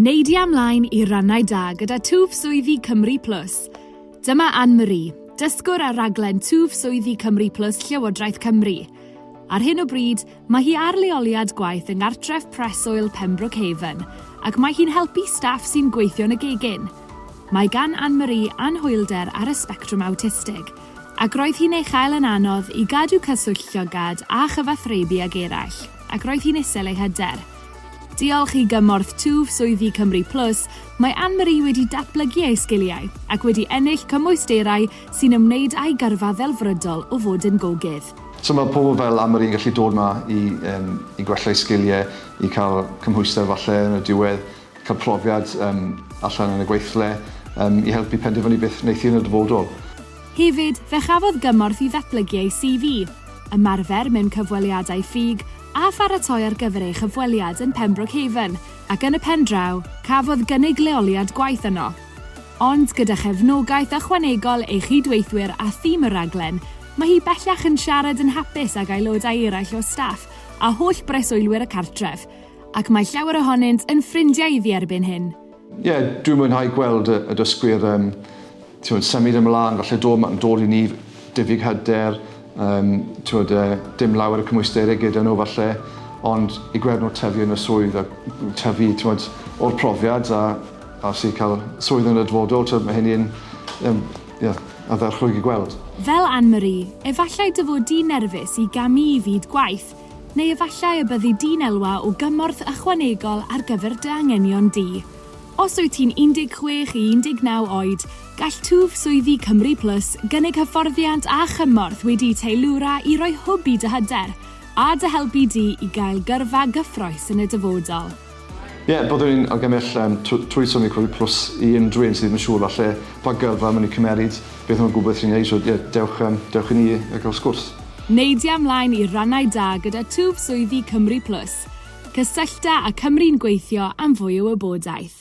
Neidia ymlaen i rannau da gyda Twf Swyddi Cymru Plus. Dyma Anne Marie, dysgwr ar raglen Twf Swyddi Cymru Plus Llywodraeth Cymru. Ar hyn o bryd, mae hi ar leoliad gwaith yng Nghartref Preswyl Pembroke Haven, ac mae hi'n helpu staff sy'n gweithio yn y gegin. Mae gan Anne Marie anhwylder ar y sbectrwm awtistig, ac roedd hi'n ei chael yn anodd i gadw cyswllt llygad a chyfathrebu ag eraill, ac roedd hi'n isel ei hyder. Diolch i gymorth twf swyddi Cymru Plus, mae Anne-Marie wedi datblygu ei sgiliau ac wedi ennill cymwysterau sy'n ymwneud â'i gyrfa ddelfrydol o fod yn gogydd. So mae pobl fel Anne-Marie yn gallu dod 'ma i yym i gwella eu sgiliau, i cael cymhwyster falle yn y diwedd, cael profiad yym allan yn y gweithle, yym i helpu penderfynu beth wneith hi yn y dyfodol. Hefyd, fe chafodd gymorth i ddatblygu ei CV, ymarfer mewn cyfweliadau ffug, a pharatoi ar gyfer ei chyfweliad yn Pembroke Haven, ac yn y pen draw, cafodd gynnig leoliad gwaith yno. Ond gyda chefnogaeth ychwanegol ei chyd-weithwyr a thîm y rhaglen, mae hi bellach yn siarad yn hapus ag aelodau eraill o staff a holl breswylwyr y cartref, ac mae llawer ohonynt yn ffrindiau iddi erbyn hyn. Ie, yeah, dwi'n mwynhau gweld y, y dysgwyr um, tiwod, symud ymlaen, falle dod, mae'n dod i ni diffyg hyder, um, tiwod, uh, dim lawer y cymwysterau gyda nhw falle, ond i gweld nhw tyfu yn y swydd a tyfu tiwod, o'r profiad a, a sy'n cael swydd yn y dyfodol, tiwod, mae hynny'n um, yeah, a dderchwyd i gweld. Fel Anne-Marie, efallai dy fod di'n nerfus i gamu i fyd gwaith, Neu efallai y byddi di'n elwa o gymorth ychwanegol ar gyfer dy anghenion di. Os wyt ti'n 16 i 19 oed, gall Twf Swyddi Cymru Plus gynnig hyfforddiant a chymorth wedi'u teilwra i roi hwb i dy hyder a dy helpu di i gael gyrfa gyffrous yn y dyfodol. Ie, yeah, byddwn ni'n argymell um, trwy Sony Covid Plus i unrhyw un sydd ddim yn siŵr falle pa gyrfa maen nhw'n cymeryd, beth nhw'n gwybod sy'n ei, so ie, yeah, dewch, um, dewch i ni a gael sgwrs. Neidia ymlaen i rannau da gyda twf swyddi Cymru Plus. Cysyllta a Cymru'n gweithio am fwy o wybodaeth.